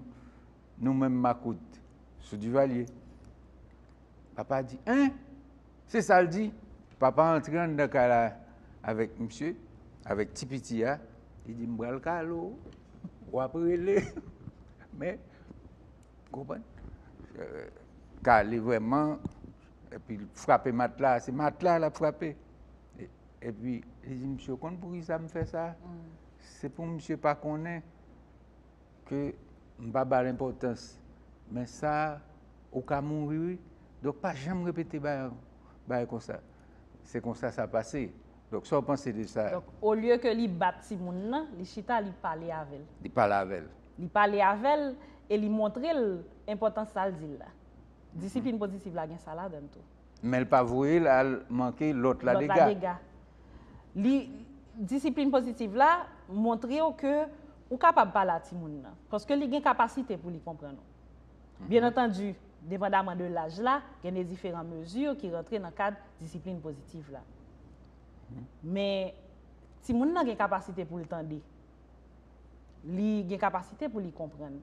nou menm makout sou Duvalier. Papa di hein se sal di papa antre anndan kay la avèk misye avèk ti piti a li di m pral kale w wap rele men konprann kale vrèman epil frape matla se matla lap frape Epi, li di misye, ou konn pou ki sa m fè sa? Se pou misye pa konnen ke m pa ba l enpòtans. Men sa, ou ka mouri wi. Donk, pa janm repete bagay konsa. Se konsa sa pase. Donk, sa w panse de sa? Donk, olye ke li bat timoun nan, li chita, li pale avè l. Li pale avè l. Li pale avè l e li montre l enpòtans sa l di l la. Disiplin pozitiv la gen sa ladan l tou. Men l pa voye l al manke lòt la dega. Lòt la dega. Li, disiplin pozitiv la montre w ke ou kapab pale a timoun nan. Paske li gen kapasite pou li konprann ou. Byen antandi, depandaman de laj la, gen de diferan mezi ki rantre nan kad disiplin pozitiv la. Men, timoun nan gen kapasite pou l tande. Li gen kapasite pou li konprann.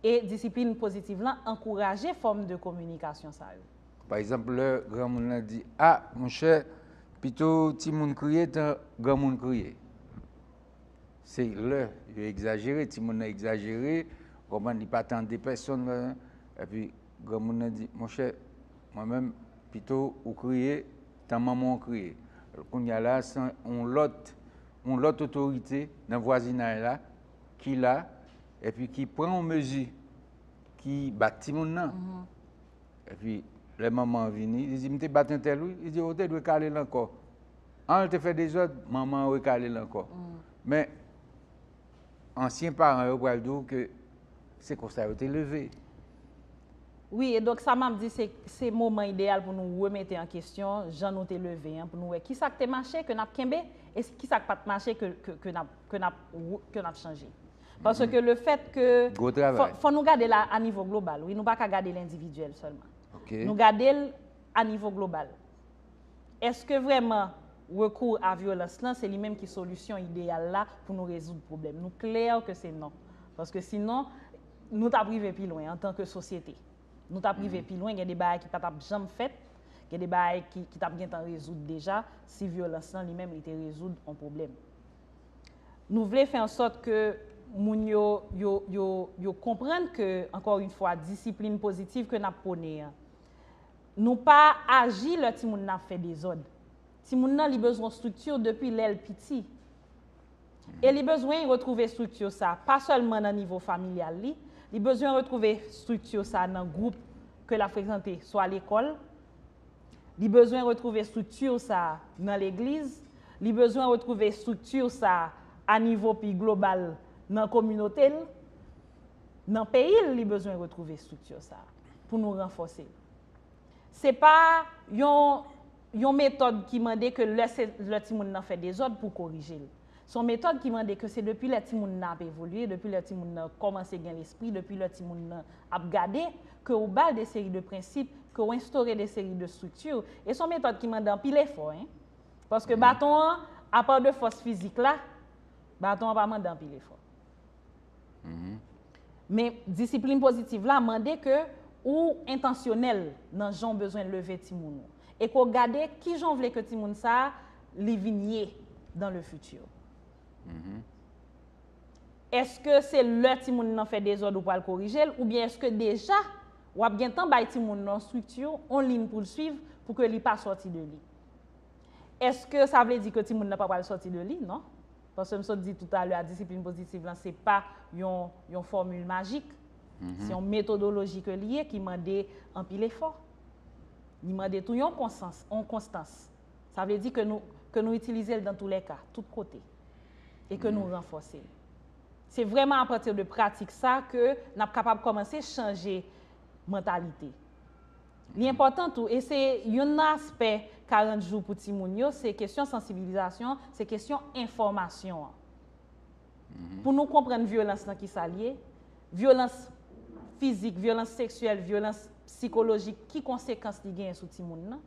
E disiplin pozitiv lan ankouraje fòm de kominikasyon sa yo. Pa egzanp, lè granmoun lan di, A, monchè, pito timoun kriye tan granmoun kriye. Se lè yo egzajere, timoun lan egzajere, ou konprann, li pa tande pèsonn, epi granmoun lan di, Monchè, mwen menm, pito ou kriye tan manman w kriye. Kounye a la, se yon lòt otorite nan vwazinay la. ki la epi ki pran yon mezi ki bat timoun nan. Epi lè manman an vini, li di m te bat entèl wi, li di ou te dwe kale l ankò. An l te fè dezòd, manman an rekale l ankò. Men ansyen paran yo pral di w ke se konsa yo te leve. Wi, e donk sa m ap di se se moman ideyal pou nou remete an kesyon jan nou te leve an pou nou wè kisa k te mache ke n ap kenbe e kisa k pa t mache ke n ap ke nap wout ke nap chanje. Pase ke le fèt ke fò nou gade la a nivo global wi nou pa ka gade l endividyèl sèlman. Nou gade l a nivo global. Eske vrèman rekou a vyolans lan se li menm ki solisyon ideyal la pou nou rezoud pwoblèm. Nou klè ke se non. Paske si non nou tap rive pi lwen antan ke sosyete. Nou tap rive pi lwen gen de bagay ki pa tap janm fèt, gen de bagay ki tap gentan rezoud deja si vyolans lan li menm li te rezoud on pwoblèm. Nou vle fè ansòt ke moun yo, yo, yo, yo konprann ke, ankò yon fwa, disiplin pozitiv ke n ap pwone an, nou pa aji lè timoun nan ap fè dezòd. Timoun nan li bezwen estrikti depi lè l piti. E li bezwen retwouve estrikti sa pa sèlman nan nivo familyal li, li bezwen retwouve estrikti sa nan gwoup ke l ap frekante, swa lekòl, Li bezwen retwouve estrikti sa a nan legliz, li bezwen retwouve estrikti sa a a nivo pi global nan kominote l, nan peyi l li bezwen retwouve estrikti sa a pou nou ranfòse l. Se pa yon metòd ki mande ke lè timoun nan fè dezòd pou w korije l. Se yon metòd ki mande ke se depi lè timoun nan ap evolye, depi lè timoun nan kòmanse gen lespri, depi lè timoun nan ap gade, ke ou ba l de seri de prensip, ke ou enstore de seri de strikti, e se yon metòd ki mande anpil efò, hein. Paske baton an, apa de fòs fizik la, baton an pa mande anpil efò. Men, disiplin pozitiv la mande ke ou entansyonèl nan jan w bezwen leve timoun ou e ke w gade ki jan w vle ke timoun sa a li vin ye dans le futur. Eske se lè timoun nan fè dezòd ou pral korije l oubyen eske deja w ap gen tan bay timoun nan yon strikti, yon lin pou l swiv pou ke li pa sòti de li? Eske sa vle di ke timoun nan pa pral sòti de li? Non. Paske m sot di toutalè a disiplin pozitiv lan se pa yon yon fòmil majik. Se yon metodoloji ke li ye ki mande anpil efò. Li mande tou yon konsans, yon konstans. Sa vle di ke nou ke nou itilize l dan tou lè ka, tout kote. E ke nou ranfòse l. Se vrèman apati de pratik sa ke n ap kapab kòmanse chanje mantalite. Li enpòtan tou, e se youn nan aspè 40 jou pou timoun yo, se kesyon sansibilizasyon, se kesyon enfòmasyon an. Pou nou konprann vyolans lan ki sa l ye, vyolans fizik, vyolans seksyèl, vyolans psikolojik, ki konsekans li genyen sou timoun nan,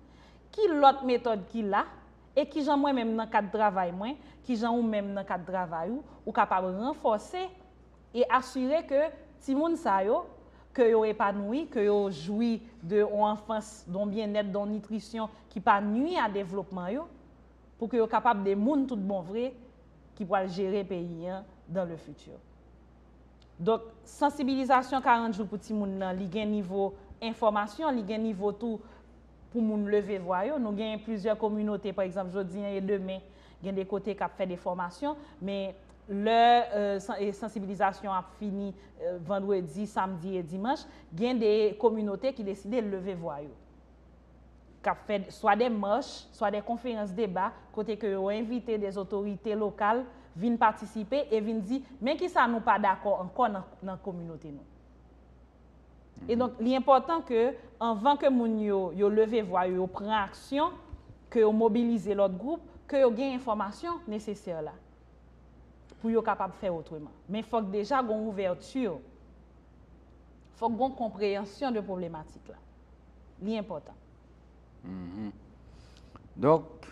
ki lòt metòd ki la, e ki jan mwen menm nan kad travay mwen, ki jan ou menm nan kad travay ou, ou kapab ranfòse. e asire ke timoun sa yo, ke yo epanouyi, ke yo jwi de yon anfans, de yon byennèt, de yon nitrisyon ki pa nwi a devlopman yo, pou ke yo kapab de moun tout bon vre ki pwal jere peyi an dans le futur. Donk, sansibilizasyon 40 jou pou timoun nan, li gen nivo enfòmasyon, li gen nivo tou pou moun leve vwa yo. Nou gen plizyè kominote, pa egzanp, jodi e demen, gen de kote kap fè de fòmasyon, men, Lè sansibilizasyon ap fini vandredi, samdi e dimanch, gen de kominote ki deside leve vwa yo. K ap fè swa de mach, swa de konferans deba, kote ke yo envite de otorite lokal vin patisipe e vin di men ki sa nou pa dakò ankò nan kominote nou. E donk li enpòtan ke anvan ke moun yo, yo leve vwa yo, yo pran aksyon, ke yo mobilize lòt gwoup, ke yo gen enfòmasyon nesesè la. pou yo kapab fè otreman. Men fòk deja gon ouvèti, fòk gon konpreyansyon de pwoblematik la. Li enpòtan. Donk,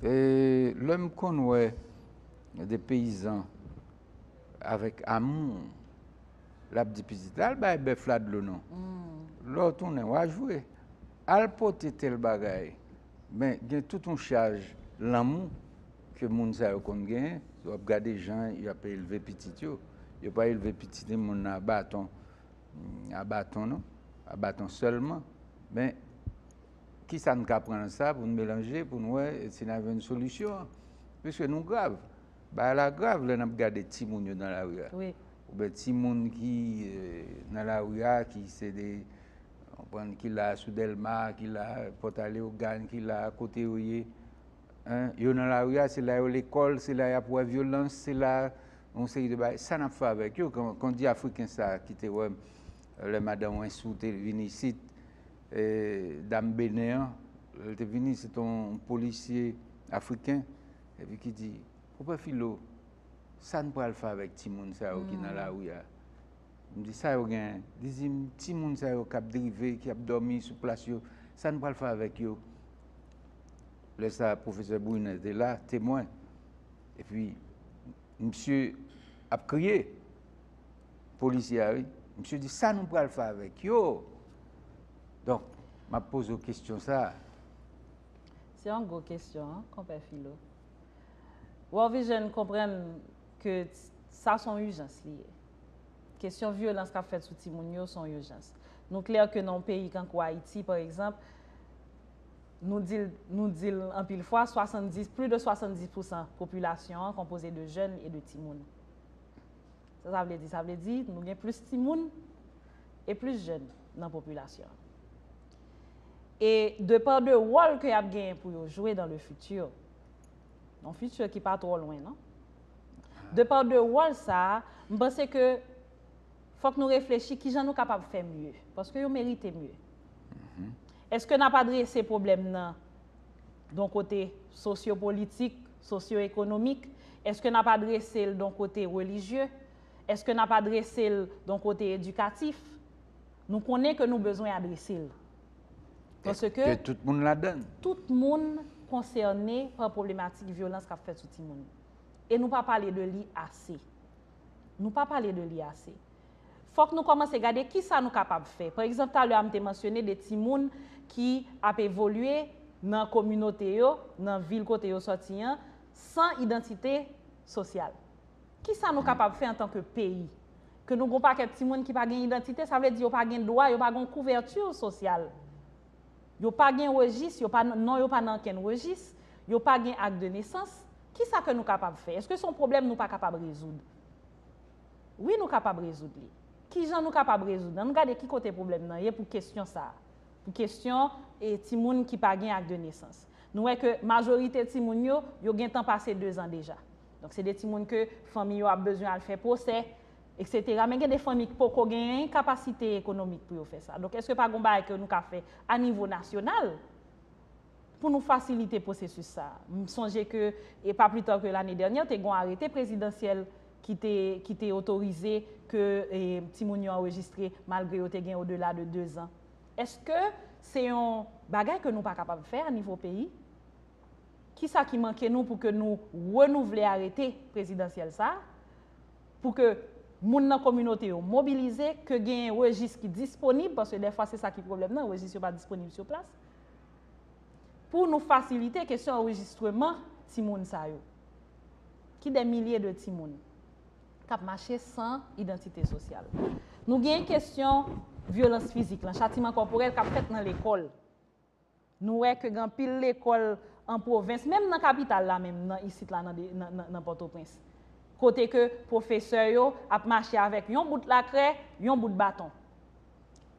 lè m konn wè de peyizan avèk amou, l ap di pitit, al bay bèf la dlo non. Lè w tounen, w a jwe. Al pote tèl bagay. Men gen tout yon chaj lanmou ke moun sa yo konn genyen, si w ap gade jan y ap elve pitit yo, yo pa elve piti timoun nan a baton, a baton non, a baton sèlman. Men, ki sa n ka pran nan sa pou n melanje, pou n wè si n a jwenn solisyon an? Piske nou grav, bagay la grav lè n ap gade timoun yo nan lari a, oubyen timoun ki nan lari a ki se de. konprann ki la sou delma ki la pòtaleogàn ki la kote yo ye yo nan lari a se la yo lekòl se la y ap wè vyolans se la yon seri de bagay sa n ap fè avèk yo kon di afriken sa ki te wè m lè madan wensou te vin isit dam benen an lè l te vin isit se te yon polisye afriken epi ki di konpè filo sa n pral fè avèk timoun sa yo ki nan lari a M di sa yo gen? Li di m, ti moun sa yo k ap drive, ki ap dòmi sou plas yo, sa n pral fè avèk yo? Lè sa a pwofesè Bruner te la, temwen, epi misye ap kriye, polisye a wi, misye di sa nou pral fè avèk yo? Donk, m ap poze w kesyon sa a. Se yon gwo kesyon, konpè Filo. World Vision konprann. ke sa son ijans li ye. Kesyon vyolans kap fèt sou timoun yo son ijans. Nou klè ke nan yon peyi kankou Ayiti pa egzanp, nou di l, nou di l anpil fwa, 70, plis de 70 pousan popilasyon an konpoze de jèn e de timoun. Sa sa vle di? Sa vle di nou gen plis timoun e plis jèn nan popilasyon an. E de pa de wòl ke yap genyen pou yo jwe dan le fiti, Yon futur ki pa twò lwen non. De par de wòl sa, m panse ke fòk nou reflechi kijan nou kapab fè mye. Paske yo merite mye. Eske n ap adrese pwoblèm nan don kote sosyo politik, sosyo ekonomik? Eske n ap adrese l don kote relijye? Eske n ap adrese l don kote edikatif? Nou konnen ke nou bezwen adrese l. Paske. Ke tout moun ladann. Tout moun konsène pa pwoblematik vyolans k ap fèt sou timoun. E nou pa pale de li ase. Nou pa pale de li ase. Fòk nou kòmanse gade ki sa nou kapab fè. Pa egzanp, talè a m te mansyone de timoun ki ap evolye nan kominote yo, nan vil kote yo sòti an, san idantite sosyal. Ki sa nou kapab fè antanke peyi? Ke nou gen yon pakèt timoun ki pa gen idantite, sa vle di yo pa gen dwa, yo pa gen yon kouvèti sosyal. Yo pa gen rejis, yo pa, non yo pa nan ankenn rejis, yo pa gen ak de nesans. Ki sa ke nou kapab fè? Eske se yon pwoblèm nou pa kapab rezoud? Wi nou kapab rezoud li. Ki jan nou kapab rezoud? Ann gade ki kote pwoblèm nan ye pou kesyon sa a. Pou kesyon e timoun ki pa gen ak de nesans. Nou wè ke majorite timoun yo, yo gen tan pase dezan deja. Donk se de timoun ke fanmi yo ap bezwen al fè pwosè, eksetera. Men gen de fanmi ki poko genyen kapasite ekonomik pou yo fè sa. Donk eske pa gon bagay ke nou ka fè a nivo nasyonal pou nou fasilite pwosesis sa a? M sonje ke e pa pli ta ke lane dènyè te gon arete prezidansyèl ki te ki te otorize ke e timoun yo anrejistre malgre yo te gen odela de dezan. Eske se yon bagay ke nou pa kapab fè a nivo peyi? Kisa ki manke nou pou ke nou renouvle arete prezidansyèl sa a, pou ke moun nan kominote yo mobilize, ke genyen rejis ki disponib, paske dèfwa se sa ki pwoblèm nan, rejis yo pa disponib sou plas, pou nou fasilite kesyon anrejistreman timoun sa yo, ki dè milye de timoun, k ap mache san idantite sosyal. Nou genyen kesyon vyolans fizik lan, chatiman kòporèl k ap fèt nan lekòl. Nou wè ke gen anpil lekòl an pwovens, menm nan kapital la menm, nan isit la nan Pòtoprens, kote ke pwofesè yo ap mache avèk yon bout lakrè, yon bout baton.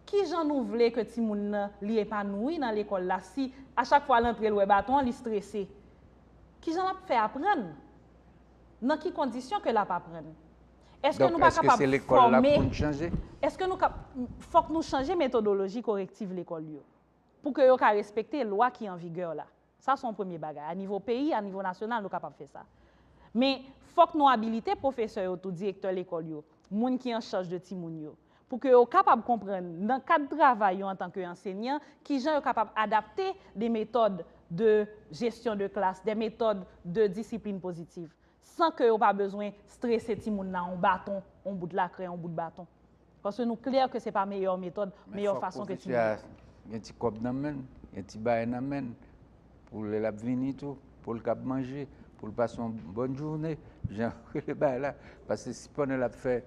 Ki jan nou vle ke timoun nan li epanouwi nan lekòl la si a chak fwa l antre l wè baton an li strese? Ki jan l ap fè aprann? Nan ki kondisyon ke l ap aprann? Èske nou pa kapab fòme? Donk, èske se lekòl la pou n chanje? Èske nou ka, fòk nou chanje metodoloji korektiv lekòl yo. pou ke yo ka respekte lwa ki an vigè la. Sa se yon premye bagay. A nivo peyi, a nivo nasyonal, nou kapab fè sa. Men, fòk nou abilite pwofesè yo tou, direktè lekòl yo, moun ki an chaj de timoun yo, pou ke yo kapab konprann, nan kad travay yo antanke ansenyan, ki jan yo kapab adapte de metòd de jesyon de klas, de metòd de disiplin pozitiv. san ke yo pa bezwen strese timoun la on baton, on bout lakrè, on bout baton. Paske nou klè ke se pa meyè metòd, meyè fason ke timoun la. Men fòk pitit la gen ti kòb nan menn, gen ti bagay nan menn, pou lè lap vini tou, pou l kab manje, pou l pase on bòn joune, jan yo rele bagay la. Paske si pandan lap fè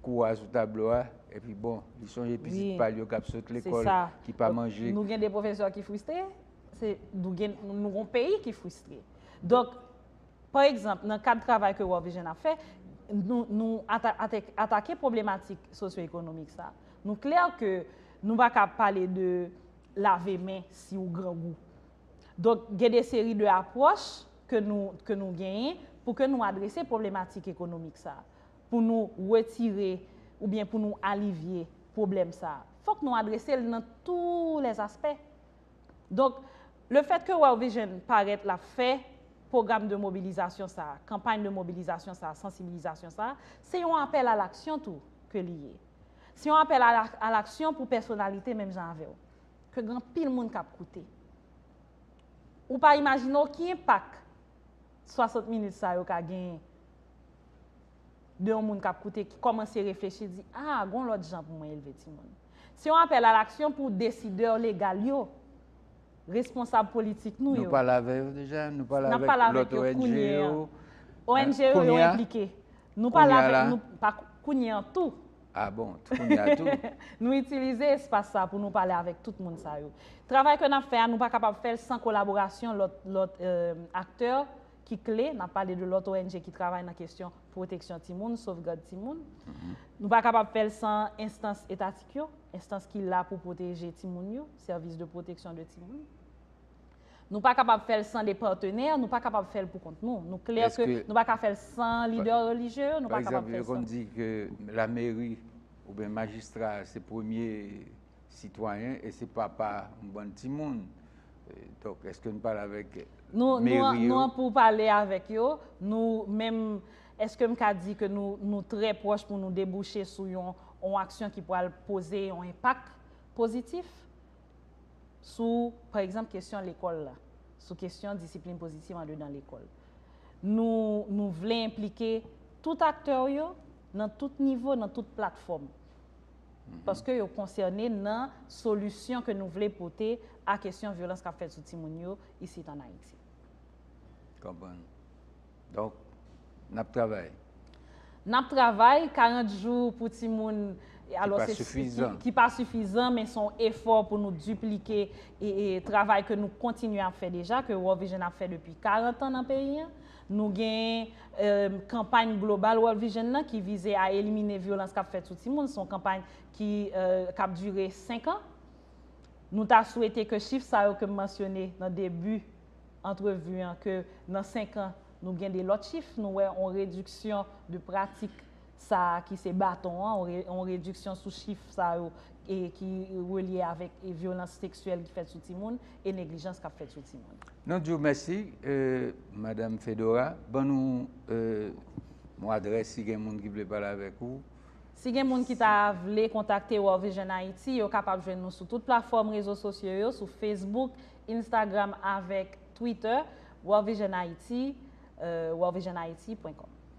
kou a sou tablo a, epi bon, li sonje pitit pa l yo kap sot lekòl, ki pa manje. Nou gen de pwofesè ki fristre, nou gen, nou gon peyi ki fristre. Donk, Pa egzanp, nan kad travay ke World Vision ap fè, nou, nou atake pwoblematik sosyoekonomik sa. Nou klè ke nou pa ka pale de lave men si ou grangou. Donk, gen de seri de apwòch ke nou, ke nou genyen pou ke nou adrese pwoblematik ekonomik sa. Pou nou wetire oubyen pou nou alivye pwoblèm sa. Fòk nou adrese l nan tou lè aspè. Donk, le fèt ke World Vision parèt la fè pwogram de mobilizasyon sa, kanpay de mobilizasyon sa, sansibilizasyon sa, se yon apèl a laksyon tou ke li ye. Se yon apèl a laksyon pou pèsonalite menm jan avè w. Ke gen anpil moun k ap koute. Ou pa imajine w ki enpak 60 minit sa yo ka genyen de yon moun k ap koute ki kòmanse reflechi di, a, gen yon lòt jan pou mwen elve timoun. Se yon apèl alaksyon pou desidè legal yo, responsab politik nou yo. Nou pale avè yo deja? Nou pale avèk lòt ONG yo? ONG yo yo enplike. Nou pale avè yo kounye an tou. A bon, kounye an tou. Nou itilize espas sa pou nou pale avèk tout moun sa yo. Travay ke nap fè a nou pa kapab fèl san kolaborasyon lòt aktè. ki kle, nan pale de lòt ONG ki travay nan kesyon pwoteksyon timoun, sovgad timoun. Nou pa kapab fè l san enstans etatik yo, enstans ki la pou pwoteje timoun yo, sèvis de pwoteksyon de timoun. Nou pa kapab fè l san de patenè, nou pa kapab fè l pou kont nou. Nou klè ke nou pa ka fè l san lidè relijye yo, nou pa kapab fè l san. Par egzanp, yo konn di ke lameri oubyen majistra se premye Sitwayen e se papa yon bann timoun. Donk eske nou pale avèk meri yo? Nou an pou pale avèk yo. Nou menm, eske m ka di ke nou trè pwòch pou nou debouche sou yon aksyon ki pral poze yon enpak pozitif sou, pa egzanp, kesyon lekòl la, sou kesyon disiplin pozitif andedan lekòl. Nou vle enplike tout aktè yo nan tout nivo, nan tout platfòm. paske yo konsène nan solisyon ke nou vle pote a kesyon vyolans kap fèt sou timoun yo isit an Ayiti. Konprann. Donk, nap travay. Nap travay, 40 jou pou timoun, alò se. Ki pa sifizan. Ki pa sifizan, men son efò pou nou diplike travay ke nou kontinye ap fè deja, ke World Vision ap fè depi 40 an nan peyi an. Nou gen kanpay global World Vision nan ki vize a elimine vyolans kap fèt sou timoun. Se yon kanpay ki kap dire 5 an. Nou ta swete ke chif sa yo kem mansyone nan debi antrevi an ke nan 5 an nou gen de lòt chif, nou wè yon rediksyon de pratik. sa a ki se baton an, yon rediksyon sou chif sa yo ki relye avèk vyolans seksyèl ki fèt sou timoun e neglijans k ap fèt sou timoun. Nou di w mèsi, Madam Fedora. Ban nou yon adrès si gen moun ki vle pale avèk ou. Si gen moun ki ta vle kontakte World Vision Haiti, yo kapab jwenn nou sou tout platfòm rezo sosyo yo, sou Facebook, Instagram avèk Twitter, World Vision Haiti, worldvisionhaiti pwen kòm.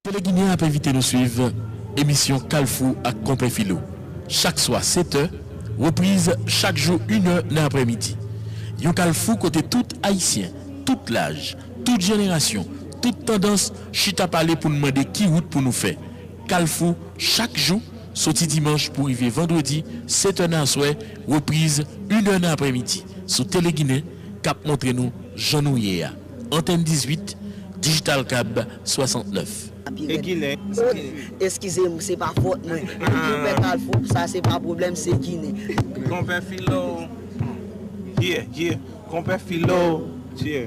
Tele Ginen ap envite nou swiv emisyon Kalfou ak Konpè Filo chak swa 7 tè, repriz chak jou 1 è nan aprè midi. Yon kalfou kote tout Ayisyen, tout laj, tout jenerasyon, tout tandans chita pale pou n mande ki wout pou nou fè. Kalfou chak jou, soti dimanch pou rive vandredi 7 è nan aswè, repriz 1 è nan aprè midi sou Tele Ginen. k ap montre nou jan nou ye a, Antèn 18, Digital Cab 69. E ginen sa ki di. Eskize m, se pa fòt mwen. Konpè Kalfou, sa se pa pwoblèm, se ginen. Konpè Filo, yeah, yeah. Konpè Filo, yeah.